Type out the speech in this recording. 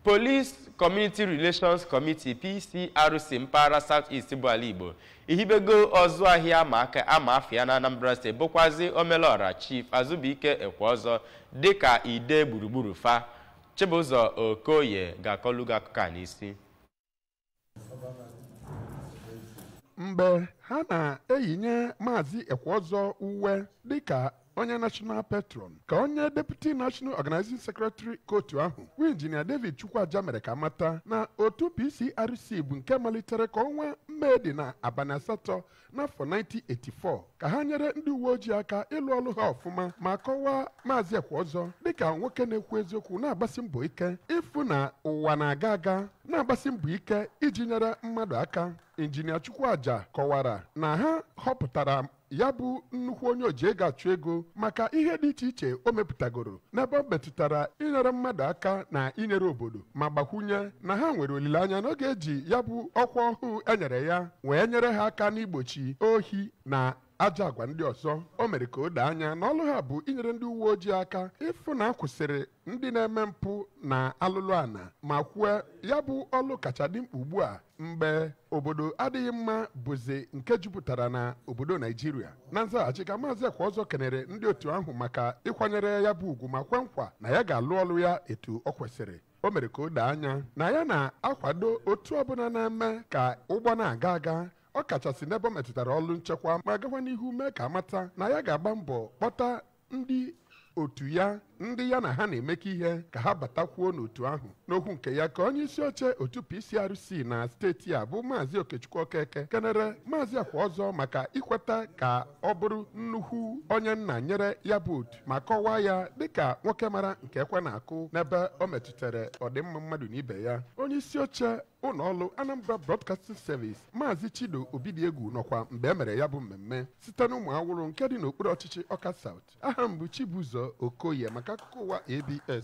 Police Community Relations Committee PCRC mpaghara South East bụ ala Igbo ehibego ọzụ ahịa aka ama afịa na Anambra steeti bụkwazi Omelora Chief Azụbụike Ekweọzọ dịka ide gburugburu fa Chibụzọ Okoye ga-akọlu gị akụkọ a n'isi mgbe ha na-eyinye maazị ekweọzọ uwe dịka onye national patron ka onye deputy national organizing secretary ke otu ahụ bụ injinia david chukwuaja mere ka mata na otu pcrc bụ nke malitere ka ọnwa mee dị na abanị asatọ n'afọ 1984 ka ha nyere ndị uwe ojii aka ịlụ ọlụ ha ọfụma ma kọwaa maazị ekweọzọ dịka nwoke na-ekwu eziokwu na-agbasi mbọ ike ịfụ na ụwa na-aga aga na-agbasi mbọ ike iji nyere mmadụ aka injinia chukwuaja kọwara na ha họpụtara ya bụ nnukwu onye oji ego achụ ego maka ihe dị iche iche o mepụtagoro n'ebe ọ metụtara inyere mmadụ aka na inyere obodo ma gbakwunye na ha nwere olileanya na ọ ga-eji ya bụ ọkwa ọhụụ e nyere ya wee nyere ha aka n'igbochi ohi na ajọ agwa ndị ọzọ o mere ka o doo anya na ọlụ ha bụ inyere ndị uwe ojii aka ịfụ na a kwụsịrị ndị na-eme mpụ na alụlụ ana ma kwue ya bụ ọlụ kacha dị mkpa ugbu a mgbe obodo adịghị mma bụzi nke jupụtara na obodo naijiria na nzaghachi ka maazị ekweọzọ kenere ndị otu ahụ maka ịkwanyere ya bụ ugwu ma kwe nkwa na ya ga-alụ ọlụ ya etu ọ kwesịrị o mere ka o doo anya na ya na-akwado otu ọbụna na-eme ka ụgbọ na-aga aga ọ kachasị n'ebe ọ metụtara ọlụ nchekwa ma gakwa n'ihu mee ka a mata na ya ga-agba mbọ kpọta ndị otu ya ndị ya na ha na-emekọ ihe ka ha batakwuo n'otu ahụ n'okwu nke ya ka onye isi oche otu PCRC na steeti a bụ maazị Okechukwu Okeke kenere maazị Ekweọzọ maka ikweta ka ọ bụrụ nnukwu onye nna nyere ya bụ otu ma kọwaa ya dịka nwoke mara nke ekwe na-akụ n'ebe ọ metụtara ọdịmma mmadụ na ibe ya onye isi oche ụnọ ọlụ Anambra Broadcasting Service Maazị Chido Obidiegwu nọkwa mgbe e mere ya bụ mmemme site n'Ụmụawụlụ nke dị n'okpuru ọchịchị Ọka South aha m bụ Chibụzọ Okoye maka akụkọ ụwa ABS